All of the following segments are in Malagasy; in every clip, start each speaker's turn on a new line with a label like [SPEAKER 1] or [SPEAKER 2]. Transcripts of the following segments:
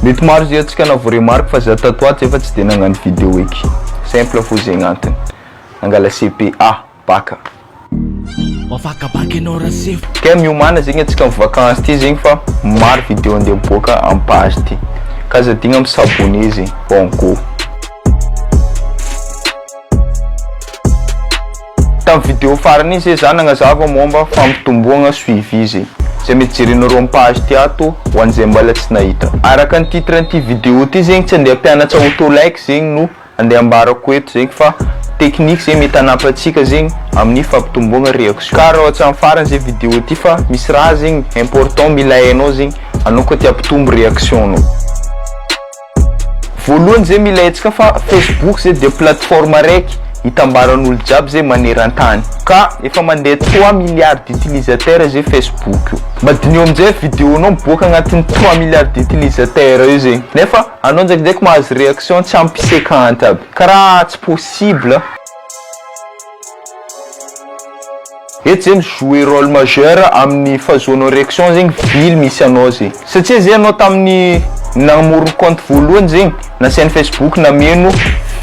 [SPEAKER 1] Mety maro zay antsika na vao remarque fa za tato atsy efa tsy de nagnano video eky. Simple fô zegny antony. Nangala CPA, baka. Mavakabaka enao Rasefo. Kay miomana zegny antsika am vacances ty zegny fa maro video andeha miboaka am page ty. K'aza adigna mi s'abonner zegny. Bon go. Tamin'ny vidéo farany iny zay za nagnazava momba fampitomboagna suivi zay. Zay mety jerenao roa am page ty ato ho an'izay mbala tsy nahita. Araka ny titre an'ity vidéo ty zegny tsy andeha hampianatra auto like zegny no andeha ambarako eto zegny fa technique zay mety hanampy antsika zegny amin'ny fampitomboagna réaction. Ka raha tsy am farany zay vidéo ty fa misy raha zegny important mila hainao zegny anao koa te hampitombo réaction nao. Voalohany zay mila hetsika fa Facebook zay dia plateforme araiky hitambaran'olo jiaby zay manerantany ka efa mandeha trois milliards d'utilisateurs zay Facebook io madiniho amizay video nao miboaka agnatin'ny trois milliards d'utilisateurs io zay nefa anao ndraikindraiky mahazo réaction tsy ampy cinquante aby karaha tsy possible. Eto zegny jouer role majeur aminy fahazoanao réaction zegny vily misy anao zegny satsia zay anao taminy namorony compte voalohany zegny nasainy facebook nameno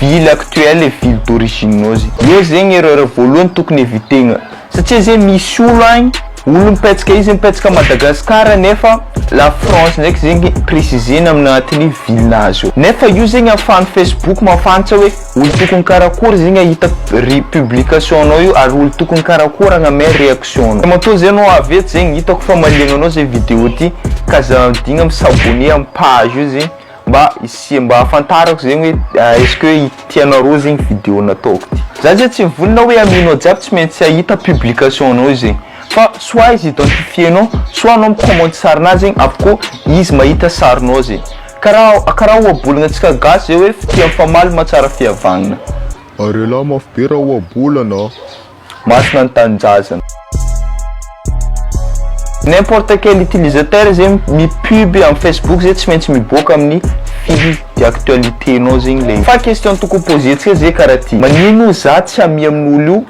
[SPEAKER 1] vily actuel et vily d'origine nao zegny eo zegny erreur voalohany tokony evitena satsia zegny misy olo agny olo mipetsaka izy mipetsaka Madagascar nefa la france ndraiky zegny presizena amina tenue vilinazy eo nefa io zegny afahany facebook mahafantra hoe Olo tokony karakory zegny ahita ry publication anao io ary olo tokony karakory agname reaction anao. Matoa zay anao avy eto zegny hitako fa maliagna anao zay video ty ka aza adigna mi s'abonner am page io zegny mba hisia mba ahafantarako zegny hoe est ce que tianareo zegny video nataoko ty. Za zay tsy vonona hoe aminao jiaby tsy maintsy ahita publication anao io zegny fa soit izy identifier anao soit anao mi commenter sarinah zegny avoko izy mahita sarinao zegny Karaha karaha ohabolana antsika gasy zay hoe fitia mifamaly mahatsara fihavanana. Ary elah
[SPEAKER 2] mafy be raha ohabolana a. Masina
[SPEAKER 1] ny tanindrazana. N'importe quel utilisateur zay mi-pub am Facebook zay tsy maintsy miboaka amin'ny fil d'actualité nao zegny le izy. Fa question tokony pozentsika zay karaha ty, magnino ozy zah tsy hamia amin'olo io?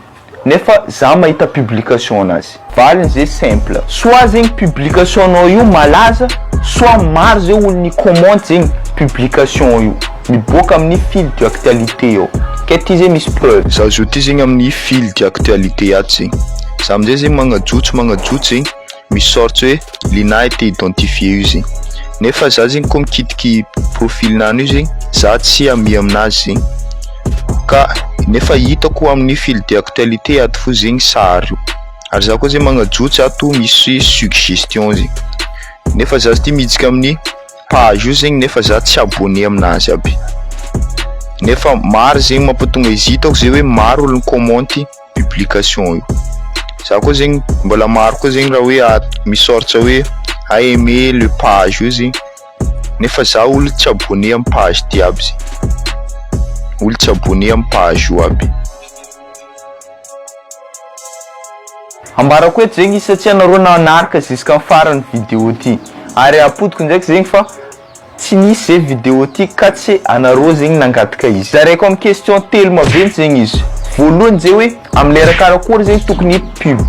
[SPEAKER 1] nefa za mahita publication anazy. Valiny ze simple. Soit zegny publication nao io malaza soit maro ze olo ni comment zegny publication io miboaka aminy fil du actualité ao ke ty ze misy preuve. Za zao ty zegny aminy
[SPEAKER 2] fil du actualité ato zegny za amizay zegny magnajotso magnajotso zegny. misy sorte hoe Lina été identifié io zegny, nefa za zegny koa mikitiky i profil-nao io zegny za tsy ami aminazy zegny, ka nefa hitako amin'ny fil d'actualité ato fo zegny sary io, ary za koa zegny magnajotso ato misy suggestion zegny, nefa za zty mihitsika amin'ny page io zegny nefa za tsy abonné aminazy aby, nefa maro zegny mampatonga izy hitako zegny hoe maro olo mi-commenty. publication io. Za koa zegny mbola maro koa zegny raha hoe ato misy sorts hoe aimé le page io zegny nefa za olo tsy abonné am page ty aby zegny olo tsy abonné am page io aby.
[SPEAKER 1] Ambarako eto zegny izy satsia nareo nanaraka ziskam farany video ty ary apodiko ndraiky zegny fa Tsy nisy zay vidéo ty ka tsy anareo zegny nangataka izy. Zaraiko am question telo maventy zegny izy. Voalohany zay hoe am lera karakory zegny tokony hi pub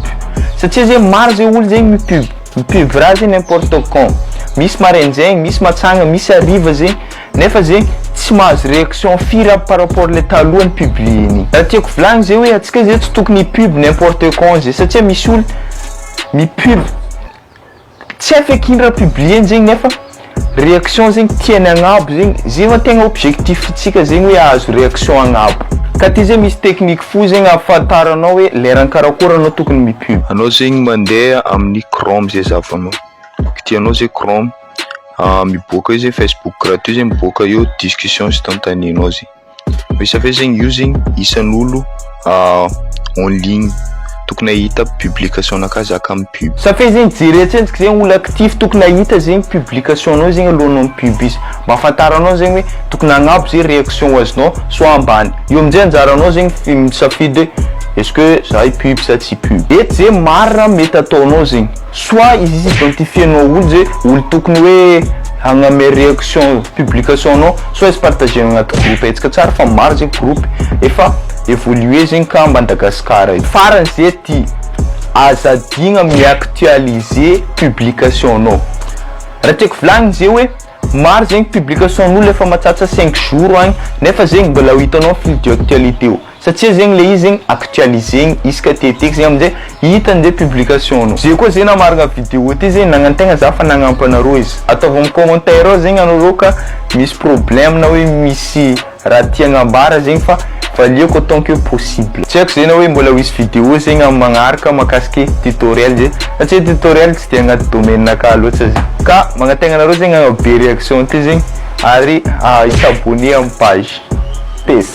[SPEAKER 1] satria zegny maro zay olo zegny mi pub mi pub raha zegny n'importe quand misy maraindraigny misy matsagna misy hariva zegny nefa zegny tsy mahazo réaction firy aby par rapport le taloha ny publier-ny. Raha tiako volagny zay hoe atsika zay tsy tokony hi pub n'importe quand zay satria misy olo mi pub. Tsy hay feky ino raha publier-ny zegny nefa réaction zegny tiany agnabo zegny, zay va tegna objectif-ntsika zegny hoe ahazo réaction agnabo. Ka ty zay misy technique fo zegny ahafantaranao hoe lerany karakôry anao tokony mi-pub. Anao zegny mandeha
[SPEAKER 2] amin'ny chrome zay zahavanao, kitihanao zay chrome, miboaka eo zay facebook gratuit zay miboaka eo discussion instantanée-nao zay. Resafe zegny io zegny isan'olo en ligne tokony ahita publication anao ka zaka am pub. Safe zegny jere
[SPEAKER 1] atsentsika zegny olo actif tokony ahita zegny publication anao zegny alohanao am pub izy mba afantaranao zegny hoe tokony agnabo ze reaction ho azonao soit ambany io amizay anjaranao zegny fi- misafidy hoe est-ce que za i pub sa tsy i pub et ze marina mety ataonao zegny. Soit izy izy identifier nao olo ze olo tokony hoe hagname reaction publication nao soit izy partager nao agnaty groupe hetsika tsara fa maro ze groupe efa evoluer zegny ka Madagascar eto. Farany ze ty aza adigna mi-actualiser publication nao raha tiako volagniny ze hoe maro zegny publication nolo efa matsatsa cinq jours agny nefa zegny mbola ho hitanao fil du actualite eo. Satsia zegny le izy zegny actualisegny isaka ty ety zegny amzay hitany zay publication nao. Ze koa ze namaragna video ty ze nagnantegna za fa nagnampo anareo izy. Ataovy am commentaire ao zegny anareo ka misy problème na hoe misy raha tia agnambara zegny fa valiako autant que possible. Tsy haiko ze na hoe mbola ho hisy video zegny am magnaraka makasike tutoriel ze satsia tutoriel tsy de agnaty domaine naka loatsa ze. Ka magnategna anareo zegny agnabo be reaction ty zegny ary hi s'abonner am page. Peace.